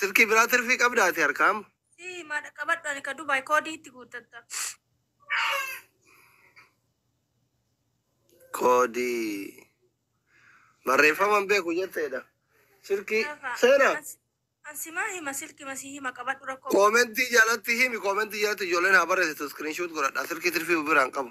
Silkii biraa tirfii qabda ati harkaam. Si maa dhaqqabadhu ani ka Dubaay koodii itti guuttatta. Koodii. Barreeffama hin beeku jetteedha. Silkii Gaafa. seena. An si- An si maa hima silki ma si hima qabadhu rakkoo. Koomentii jalatti himi koomentii jalatti ijoolleen haa barreessitu iskiriinshuut godhadha silkii tirfii biraan qabu.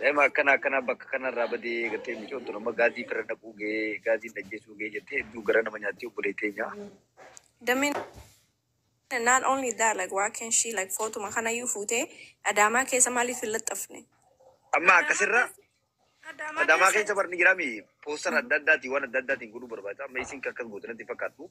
Daa'ima akkana akkanaa bakka kanarraa badee gartee micoon tun amma gaazii fira naquu ga'ee gaazii najjeessuu ga'ee jettee hedduu gara nama nyaatti obbolee teenya. Dameen not only that like why can she like footuma kanayyuu fuutee adaamaa keessa maaliif hin laxxafne? Amma akkasirra adaamaa keessa barni jiraami poostar adda addaatiin waan adda addaatiin godhuu barbaada amma isin akkas goote natti fakkaattu.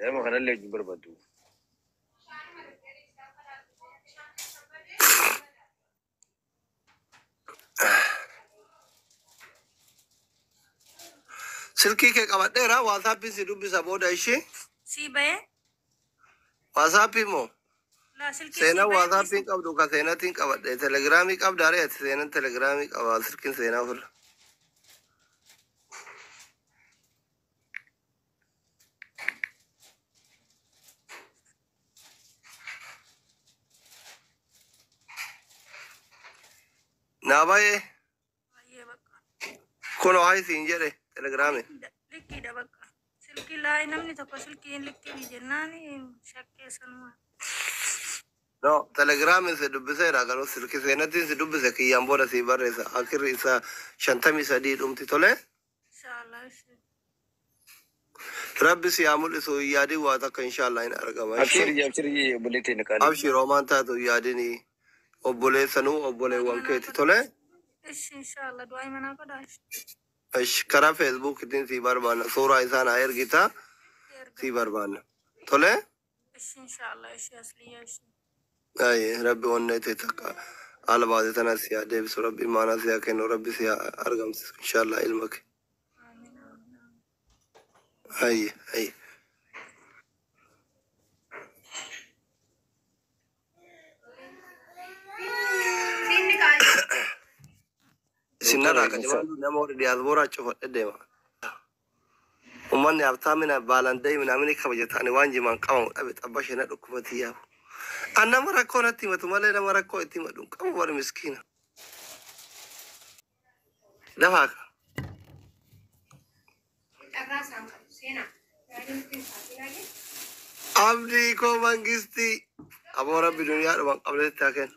Daa'ima kanallee wajjin barbaaddu. Silkii kee qabadheera waasaappii si dubbisa booda ishii Sii bahee waasaappii moo laa silkii seenaa sii bahee waasaappii hin qabdu ka seenatiin qabadhe telegiraamii qabda ree ati seenan telegiraamii qaba silkiin seenaa ofirra. Naa bayee Baay'ee bakka. kunoo haa isiin jedhe telegiraame. Likkiidha bakka. Silkii laayii namni tokko silkii hin likkiin jennaan shakkee sanuma. No, telegiraamin si dubbiseera garuu silki seenatiin si dubbise kiyyaan booda si barreessa. Akirri isaa shantamii sadii dhumti tole. Inshallah ishee. Rabbi si haa mul'isu hin yaadin waa takka inshaallaa hin argama ishee. Abshiri abshiri obboleettii na qaalii. Abshir homaan taatu hin yaadin obboleessanuu obboleewwan keeti tole. Ishi inshallah du'aa imanaa godhaa ishi. Ish karaa feesbuukitiin sii barbaanna suuraa isaa naa ergitaa sii barbaanna tole. Ishi inshallah ishi asliya ishi. Ayi rabbi onnee tee takka haala baate tana si haa deebisu rabbi imaanaa si haa kennu rabbi si haa argamsiisu inshaallah ilma kee Amin amin amin. ayi ayi Siinni qaali. isin narraa Doktora, qadimaa nama warri diyaasbooraa cufadhe deema Umani habtaa mina baalan dai minamini kabajata ani waan jimaan qabamu dhabe xabashe na dhukkubatii yaa an nama rakkoo natti himatu malee nama rakkoo itti himadhu hin qabu bar miskiina dafaa ka Carraa isaan qabu seenaa. Yaadni nutti hin taasisaa jee. abdii koo mangistii aboo rabbi duniyaa dhuman qabnetti haa kennu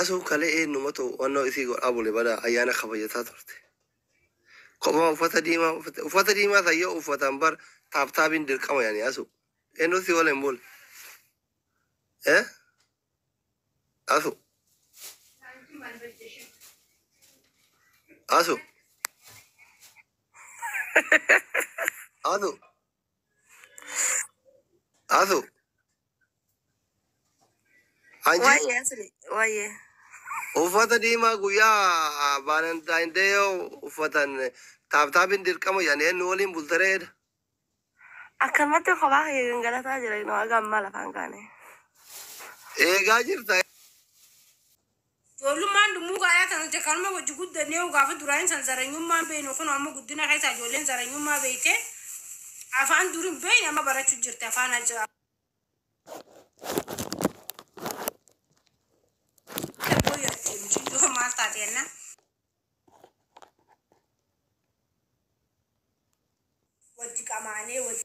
Asuu kalee eenyumatu wannoo isii godha abule bada ayyaana kabajataa turte. Kophaa uffata diimaa uffate. Uffata diimaa san yoo uffatan bar taaptaabiin dirqama yani asu. Eenyu si waliin bule? Eh? Asu. Asu. Asu. Asu. Anji Waayee asli waayee. uffata diimaa guyyaa Valentine Day yoo uffatan taaptaapiin dirqama jedhanii eenyu waliin bultareedha. Akkanumatti kophaa kee gangalataa jira inoo haga ammaa lafaan kaane. Eegaa jirta. Ijoollummaan dummuu gaayaa ta nuti kanuma wajji guddanne yoo gaafa duraa hin san zaranyummaa hin beeynu kunoo amma guddina keessaa ijoolleen zaranyummaa beeyte afaan dur hin beeyne amma barachuu jirti afaan ajaa dabboo yaatti muciyyoo maal taate jennaan wajji qamaanee wajji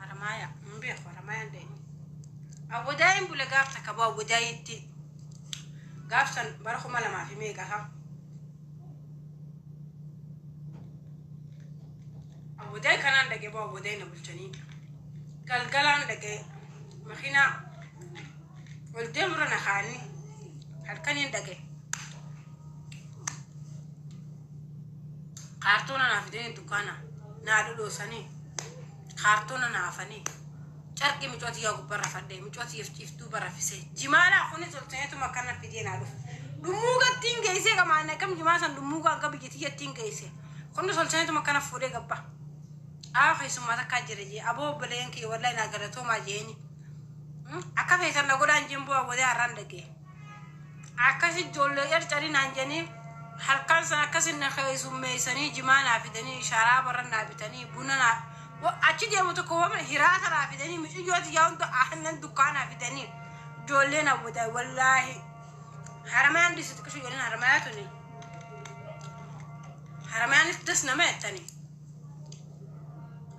Haramaayaa hin beeku haramaayaan deemee awwadaayiin bule gaaf takka boo awwadaayiitti gaaf san bara kuma lamaa fi meeqa isaa awwadaay kanaan dhaqee boo awwadaay na bulchanii galgalaan dhaqee makiinaa ol deemurra na kaanii halkaniin dhaqee Kaartoona naa fidanii dukkaana naa dhodhoosanii kaartoona naa afanii carqii micoo tiyyaa gubbaa rafadhee micoo tiyyaf ciiftuuba rafisee jimaalaa kuni tolteetum akkana fidee naa dhufu dhummuuga ittiin geessee qamaan akkam jimaa san dhummuuga hanga biyya tiyya ittiin geesse kuni tolteetum akkana fuudhee gabba aa keessummaa takkaa jira jee aboo obboleen kiyya wallahi naa galatoomaa jeeni akka feetan na godhaan jeen bu'aa godee har'aan dhagee Akkasi ijjoollee carcari naan jedhanii halkan sana akkasi na keessummeessanii jimaa naa fidanii sharaabarra naa bitanii buna naa wa- achi deemu tokko wama hiraata naa fidanii miciyyoo tiyyaa hunda aannan dukkaa naa fidanii ijoollee na wada wallaahi haramayaan disi xiqqishu jedhan haramayaa tuni haramayaanis das nama jettanii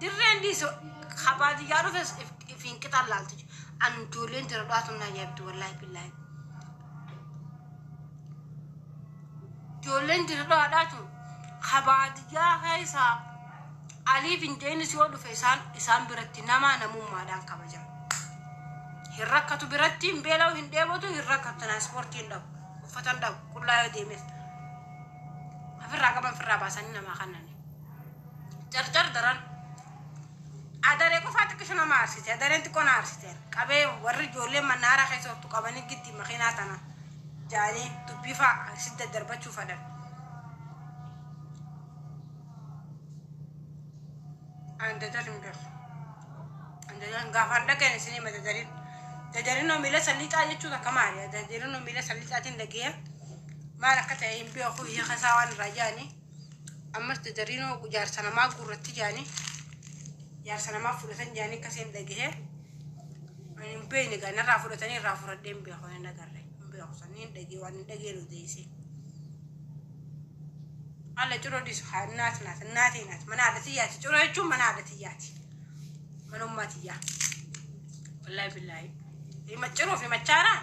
Dirreen dhiisi ka baadiyyaa dhufes ifiin qixaan laalti. An ijoolleen jira dhugaatu na yaabdi wallaahi billaahi. Ijoolleen jira dhugaadhaatu ka baadiyyaa keessaa aliif hin jeenis yoo dhufe isaan isaan biratti namaa namummaadhaan kabaja. Hin rakkatu biratti hin beela'u hin dheebotu hin rakkatu tiraanspoortii hin dhabu uffata hin dhabu qullaa yoo deemes ofirraa qaban ofirraa baasanii namaa kannani. jarjar daran adaree qofaa xiqqishu nama aarsite adareen xiqqoo na aarsite qabee warri ijoollee mannaaraa keessa ottu qabanii gitti makiinaa tana jaanii dubbii faa si daddarbachuu fadhan an dadar hin beeku an dadar gaafaan dhageen isinii ma dadariin dadarinoo miila salliixaa jechuu takka maali dadarinoo miila salliixaatiin dhageeya maal akka ta'e hin beeku hiika isaa waan irraa jaanii ammas dadariinoo jaarsa namaa guurratti jaanii jaarsa namaa fudhatan jaanii akka seen dhagahee ani hin beekne gaa narraa fudhatanii irraa fudhadhee hin beeku hin agarre hin beeku sanni hin dhagee waan hin dhageen odeesse. Alla ciro disu haa naat naat naatee naat mana haadha tiyyaati ciro jechuun mana haadha tiyyaati mana ummaa tiyyaa wallaahi billaahi hima ciroo fi machaaraan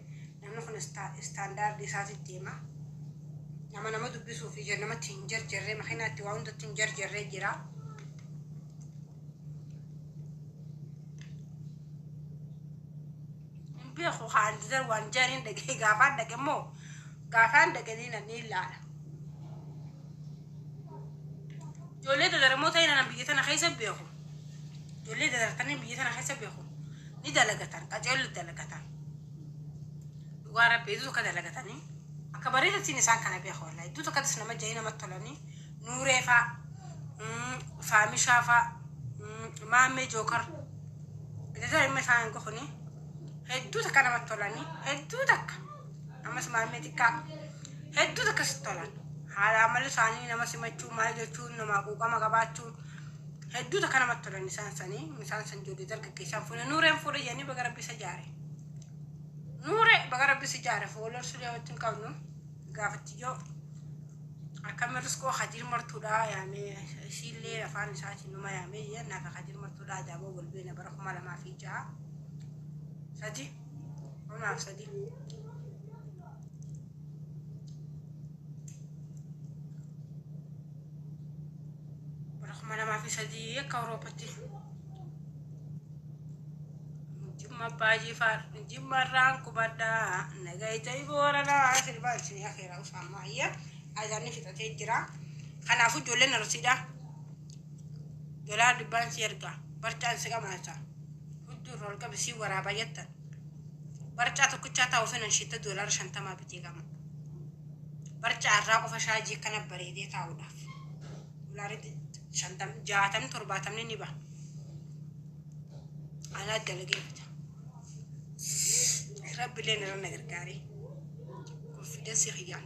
Namni kun standard isaati deema. Nama nama dubbisuu fi namatti hin jarjarree makiinaa itti waa hundatti hin jarjarree jira. Hin beeku kaan didar waan jaaniin dhagee gaafaan dhage immoo gaafaan dhage ni nan ni ilaala. Ijoollee dadaramoo ta'e nan biyya tana keessa beeku. Ijoollee dadartanii biyya tana keessa beeku. Ni dalagatan qajeellu dalagatan. dhugaa rabbi idduu takka dalagatanii akka bareedatiin isaan kana beeku wallahi idduu takkatis nama ja'ee nama tolanii nuuree faa mm, faamishaa faa mm, maammee jookar iddoo immoo isaan hin gokuni hedduu takka nama tolanii hedduu takka ammas maammee xiqqaa hedduu takka si tolan haala amalli isaanii nama simachuu maal jechuun namaa quuqama qabaachuu Hedduu takka namatti tola nisaan sanii. Nisaan san ijoollee dargaggeessaa fuune nuureen fuudhe jedhanii baga rabbi isa jaare. Nuure baga rabbi si jaare foolor sulee wajji hin qabnu gaafatti yoo akkami riskoo hadiir martuudhaa yaamee isiillee afaan isaatiin numa yaamee jeen naaf hadiir martuudhaa ajaa'iboo wal beena bara kuma lamaa fi ja'a sadii kumaaf sadii. bara kuma lamaa fi sadii akka Awurooppatti jimma abbaa jifaar jimma irraan qubadhaa nagayitee booranaa sirbaa isinii akeera usaammaa ayya azaanni fixatee jira kanaafuu ijoolleen arsiidhaa dolaa dubbaan si erga barchaan si qamaasa hudduu irra ol qabi si waraabaa jettan Barcaa tokkichaa taa'u sana shitta doolaara shantamaa bitee qaba. Barcaa irraa qofa shaajii akkana bareedee taa'uudhaaf. Doolaarri shantam, jaatamni, torbaatamni ni baha. Anaa dalagee bita. Rabbileen irra na gargaaree. Konfiidensii kiyyaan.